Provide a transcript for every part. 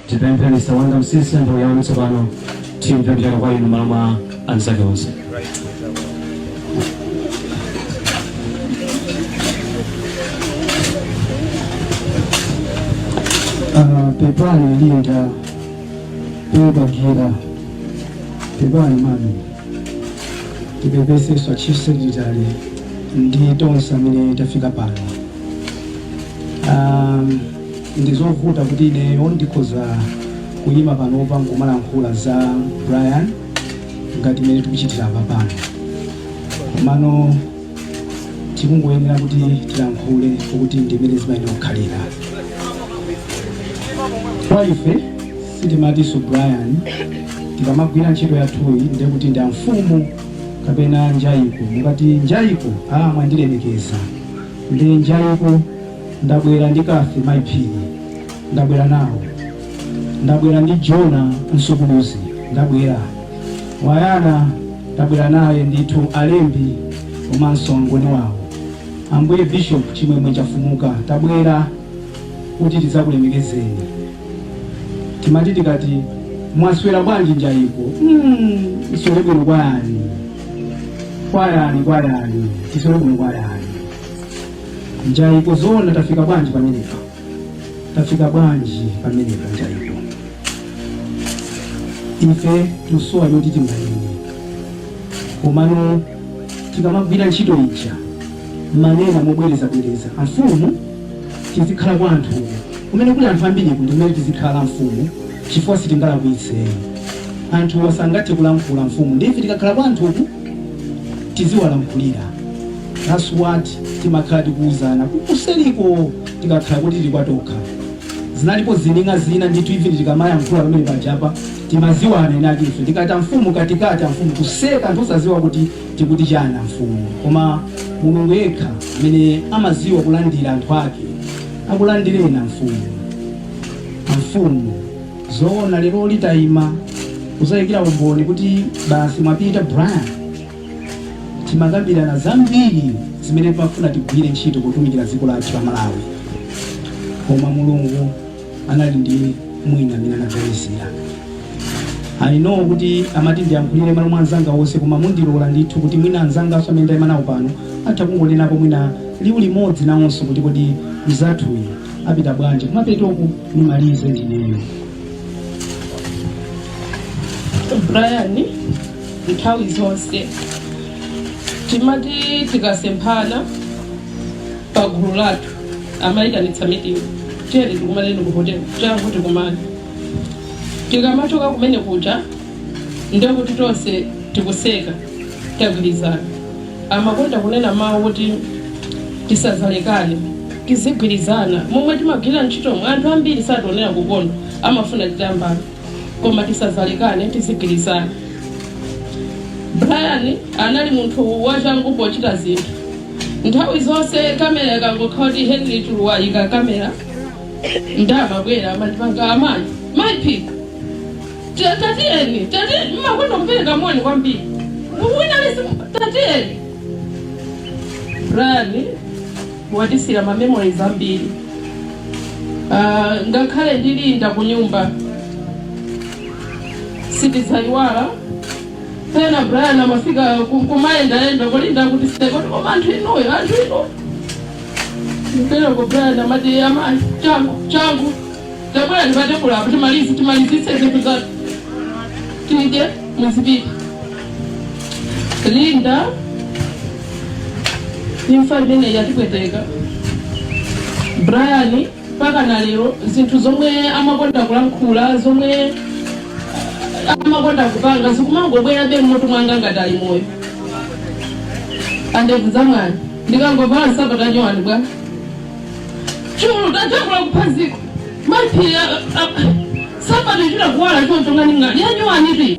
Tipemphe Mr. Wonder Msiska nthawi yanu tsopano timve kuchokera kwa inu malo mwa anzake onse. Ah, pepani linda pebagira pepani mami tipepeseso chief secretary ndi tonse amene tafika pano um, Ndi zovuta kuti ineyo ndikhoza kuyima panopa nkumalankhula za Brian ngati mmene tikuchitira apa pano, komano tikungoyenera kuti tilankhule kuti ndi mmene zimayenera kukhalira. Kwa ife sitimatinso Brian tikamagwira ntchito yathuyi ndiye kuti ndi amfumu kapena njayiko. Mukati njayiko, ah mwandilemekeza, ndi njayiko ndabwera ndi Cathy mayi phiri ndabwera nawo ndabwera ndi jona msukuluzi ndabwera wayana ndabwera naye ndithu alembi komanso angoni wawo ambuye bishop chimwemwe chafumuka tabwera kuti tidzakulemekezeni timati tikati mwaswera bwanji njayiko ndiswere bwino kwa yani kwa yani kwa yani ndiswere bwino kwa yani Njayiko zoona tafika bwanji pamenepa? Tafika bwanji pamenepa Njaiko? Ife tusowa choti tinganene. Komano tikamagwira ntchito ija mumanena mobwereza bwereza amfumu tizikhala kwa anthu kumene kuli anthu ambiriku ndi kumene tizikhala amfumu chifukwa sitingalakwitse anthuwa sangathe kulankhula amfumu ndiye ife tikakhala kwa anthuku tiziwalankhulira that's what timakhala tikuuzana kuseriko tikakhala kuti tili kwatokha zinalipo zining'a zina ndithu even tikamayankhula pamene pajapa timaziwana inati ife tikati amfumu katikati amfumu kuseka anthu osaziwa kuti tikuti chani amfumu koma mulungu yekha amene amaziwa kulandira anthu ake akulandireni amfumu amfumu zoona leroli tayima kuzayikira umboni kuti basi mwapita brian timakambirana zambiri zimene timafuna tigwire ntchito potumikira dziko lathu la malawi koma mulungu anali ndi mwina amene anadzayesera i know kuti amati ndiyankhulire malo mwa anzanga onse koma mundilola ndithu kuti mwina anzanganso amene ndayima nawo pano atha kungonenapo mwina liwu limodzi nawonso kuti kodi mzathuyi apita bwanji kumapetoku nimalize ndineyo brian nthawi zonse timati tikasemphana pa gulu lathu amayitanitsa meeting tiyeni tikumaneni ku hotel changu tikumane tikamachoka kumene kuja ndiye kuti tonse tikuseka tagwirizana amakonda kunena mawu kuti tisadzalekane tizigwirizana momwe timagwira ntchito mwa anthu ambiri sationera kunoko amafuna titambana koma tisadzalekane tizigwirizana brian anali munthu wachangu pochita zinthu nthawi zonse kamera ikangokhala kuti henry chuluwa ika kamera nde amabwera amandipanga amayi Maiphiri tatiyeni tatiyeni mmakonda kupereka moni kwambiri winalesi tatiyeni brian Mwatisiira ma memories ambiri uh, ngakhale ndi Linda kunyumba sitidzaiwala. Pena Brian amafika ku- kumayendayenda kulinda kuti si zoti koma anthu inuyo anthu inu mpereko Brian amati amayi changu changu tabwera ndi pa tebulo apo timalizi timalizitse zinthu zathu tidye muzipita Linda, imfa imeneyi yatipweteka brian mpaka na lero zinthu zomwe amakonda kulankhula zomwe amakonda kupanga zikumangobwerabe mmutu mwanga ngati ali moyo andevu za mwana ndikangovala nsapato yanyowani bwana chulu tatakula kuphaziko Maiphiri nsapato kuchita kuwala choncho ngati ngati yanyowani pi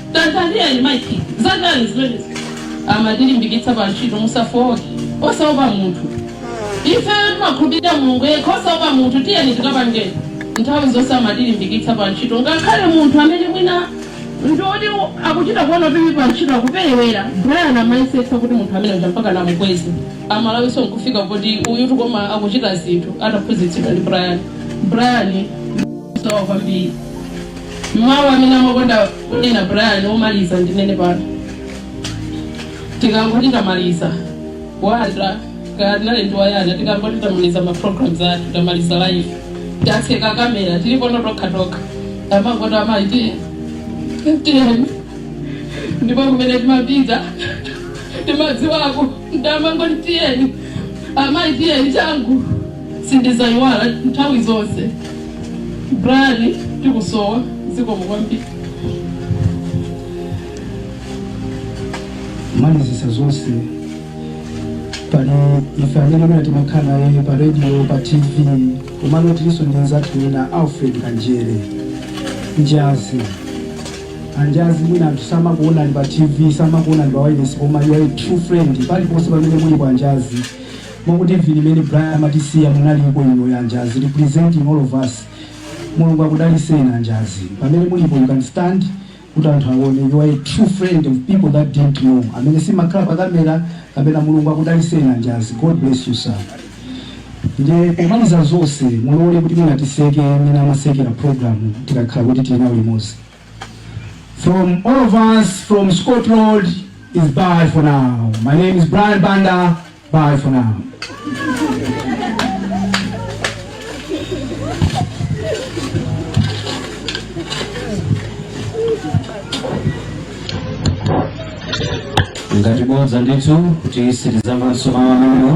tandiyankhani zakale zimenezi amatilimbikitsa pa ntchito musafowoke osaopa munthu ifeyo timakhulupirira mulungu yekha osaopa munthu tiyeni tikapangeni nthawi zonse amatilimbikitsa pa ntchito ngakhale munthu amene mwina ndiwoti akuchita kuona kuti pa ntchito akuperewera brian amayesetsa kuti munthu amene uja mpaka namukweze mmalo mwake nkufika kuti uyutu koma akuchita zinthu adaphunzitsidwa ndi brian brian sawa kwambiri Mawu amene amakonda kunena Brian omaliza ndinene pano. Tikangoti tamaliza wanda kaya tinali ndi wayana tikangoti tamaliza ma programs athu tamaliza live tatseka kamera tilipo tokha tokha amangoti amayi tatiyeni ndipo kumene timapita timadziwako nde amangoti tiyeni amayi tiyeni changu Sindizayiwala nthawi zonse. Brian tikusowa zikomo kwambiri. malizisa zonse pali ife amene timakhala naye pa radio pa tv komano tilinso ndi anzathu ena alfred kanjere anjazi anjazi mwina anthu samakuonani pa tv samakuonani pa wireless koma you are a true friend paliponse pamene muliko anjazi Mukuti vini mene Brian amatisiya munaliko inuyo anjazi representing all of us mulungu akudaliseni anjazi pamene mulipo you can stand kuti anthu aone you are a true friend of people that didn't know amene simakhala pa kamera kapena mulungu akudaliseni anjazi god bless you sir ndiye pomaliza zonse mulole kuti mwina titseke mmene amatsekera program tikakhala kuti tili nawo limodzi from all of us from scotland it's bye for now my name is brian banda Bye for now. ngati bodza ndithu kuti sitizamvanso mawu amenewo